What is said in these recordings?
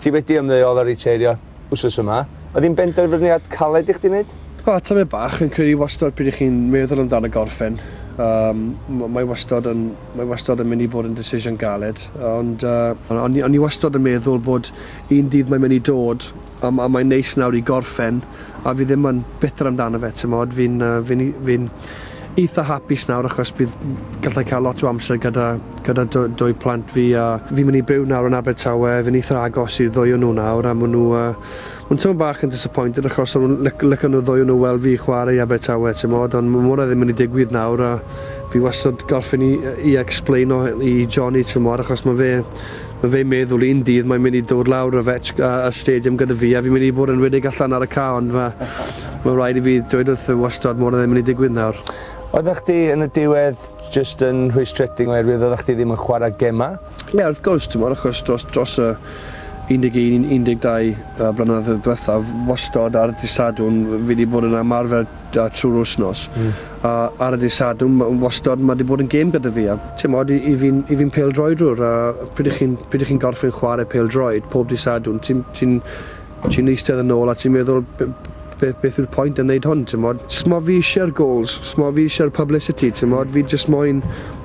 Ti wedi ymddeol a riteirio wsos yma. Oedd hi'n benderfyniad caled i chdi wneud? O, tamed bach. Fi'n credu wastod pryd 'y chi'n meddwl amdano gorffen, yym, m- mae wastod yn, mae wastod yn mynd i fod yn decision galed, ond yy, o'n i, o'n i wastod yn meddwl bod un dydd mae'n mynd i dod, a, a mae'n neis nawr i gorffen. a fi ddim yn bitter amdano fe, timod, fi'n uh, fi, fi eitha hapus nawr achos bydd gallai cael lot o amser gyda, gyda dwy, dwy plant fi a fi'n mynd i byw nawr yn Abertawe, fi'n eitha agos i'r ddwy o nhw nawr a maen nhw, uh, maen nhw'n bach yn disappointed achos o'n lyc nhw ddwy o nhw weld fi chwarae i Abertawe, timod, ond mae hwnna ddim yn mynd i digwydd nawr a fi wastad gorffen i, i explain o i Johnny, timod, achos mae fe Ma fe'n meddwl un dydd mae'n mynd i dod lawr y fetch a y stadium gyda fi a fi'n mynd i bod yn rhedeg allan ar y cae ond ma, ma rhaid i fi dweud wrtho wastad mod e ddim yn mynd i digwydd nawr. Oeddach chdi yn y diwedd jyst yn rhwystredig oherwydd oeddach chdi ddim yn chwarae gemau? Ie wrth gwrs t'mod achos dros dros y 11 i 12 yy blynedd ddiwethaf wastod ar dy' Sadwrn fi 'di bod yn ymarfer da trwy'r wythnos. A ar y dydd Sadwrn ma' wastod ma' 'di bod yn gêm gyda fi a t'mod i i fi'n i fi'n pêl-droedwr a pryd 'ych chi'n pryd 'ych chi'n gorffen chware pêl-droed pob dydd Sadwrn ti'n ti'n ti'n eistedd yn ôl a ti'n meddwl b- beth beth yw'r pwynt yn neud hwn t'mod? S'mo' fi isie'r gols, s'mo' fi isie'r publicity t'mod fi jyst moyn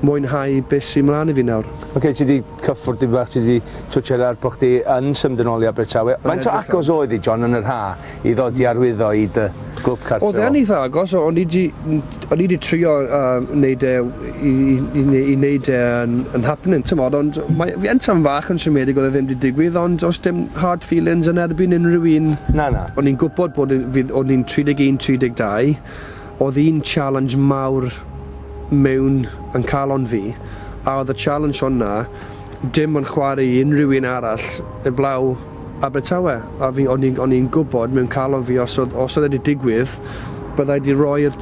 mwynhau be' sy mlan i fi nawr. Oce ti 'di Cyffwrdd tipyn bach, ti 'di twtshad ar bo' chdi yn symud yn ôl i Abertawe. Faint o agos oedd hi, John, yn yr ha', i ddod i arwyddo i dy glwb cartre o? Oedd e'n eitha agos, o'n i 'di, o'n i 'di trio yym neud e i i ne- i neud e yn yn happening t'mod ond mae fi yn tafarn fach yn siomedig o'dd e ddim 'di digwydd ond o's dim hard feelings yn erbyn unrhyw un. Na na. O'n i'n gwbod bod e fydd o'n i'n 31, 32 Oedd un challenge mawr mewn yn calon fi, a oedd y challenge honna dim ond chwarae i unrhyw un arall eblaw Abertawe, a fi, o'n i'n, o'n i'n gwbod mewn calon fi os oedd, os oedd e di digwydd, bydda i di roi'r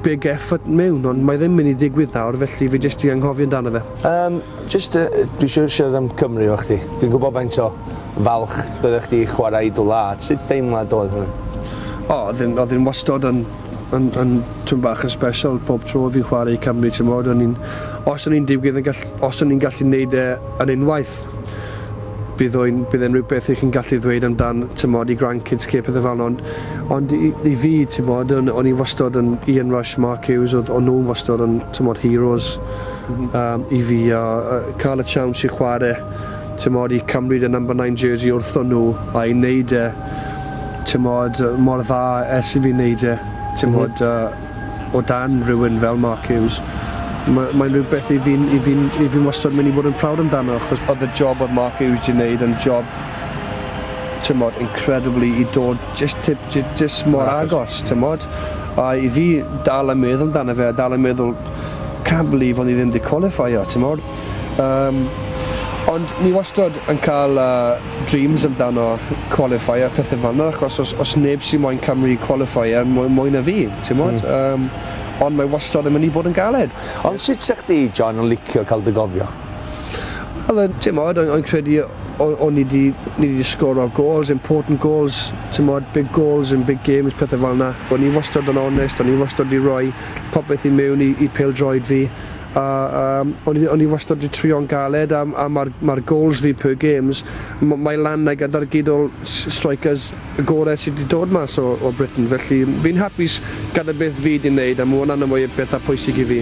big effort mewn, ond mae ddim mynd i digwydd nawr, felly fi jyst di anghofio amdano fe. Yym, Jyst yy dwi isio siarad am Cymru efo chdi. Dwi'n gwybod faint o falch byddech chdi i chwarae i dy wlad. Sut deimlad oedd hwn? O, oedd hi'n oedd hi'n wastod yn yn yn twm bach yn sbesial pob tro o fi'n chwarae i Cymru, timod, o'n i'n... os o'n i'n digwydd yn gall- os o'n i'n gallu neud e yn unwaith, bydd o'n bydd e'n rywbeth i chi'n gallu ddweud amdan, timod, i grandkids chi a pethe fel 'na, ond ond i i fi, timod, o'n o'n i wastod yn Ian Rush, Mark Hughes, oedd o'n nhw'n wastod yn timod heroes yym i fi a yy ca'l y tsiawns i chware timod i cymryd y number nine jersey wrthon nhw a i neud e timod yy mor dda ers i fi neud e timod yy o dan rywun fel Mark Hughes ma' mae'n rywbeth i fi'n i fi'n i fi'n wastod myn' i bod yn proud amdano achos odd y job odd Mark Hughes 'di neud yn job timod incredibly i dod Jyst tip, jyst mor agos, tymod. A i fi dal yn meddwl amdano fe, a dal yn meddwl, can't believe o'n i ddim wedi qualifio, tymod. Um, ond ni wastad yn cael uh, dreams amdano qualify a pethau fan yna, achos os, os neb sy'n moyn Cymru qualify er mwy, mwy na fi, tymod. Mm. Um, ond mae wastad yn mynd i bod yn galed. Ond sut sech di, John, yn licio cael dy gofio? Oedd e'n, timod, o'n i'n credu o'n i 'di, ni 'di sgoro gols, important gols, timod, big goals in big games, pethau fel 'na. O'n i wastad yn onest, o'n i wastad 'di rhoi popeth i mewn i i pêl-droed fi, a yym o'n i o'n i wastad 'di trio'n galed, a a ma'r ma'r gols fi per games, m- mae lan 'na gyda'r gydol s- strikers. y gore sy di dod mas o o Britain felly fi'n hapus gada beth fi di neud a ma wnna'n y mwy betha pwysig i fi.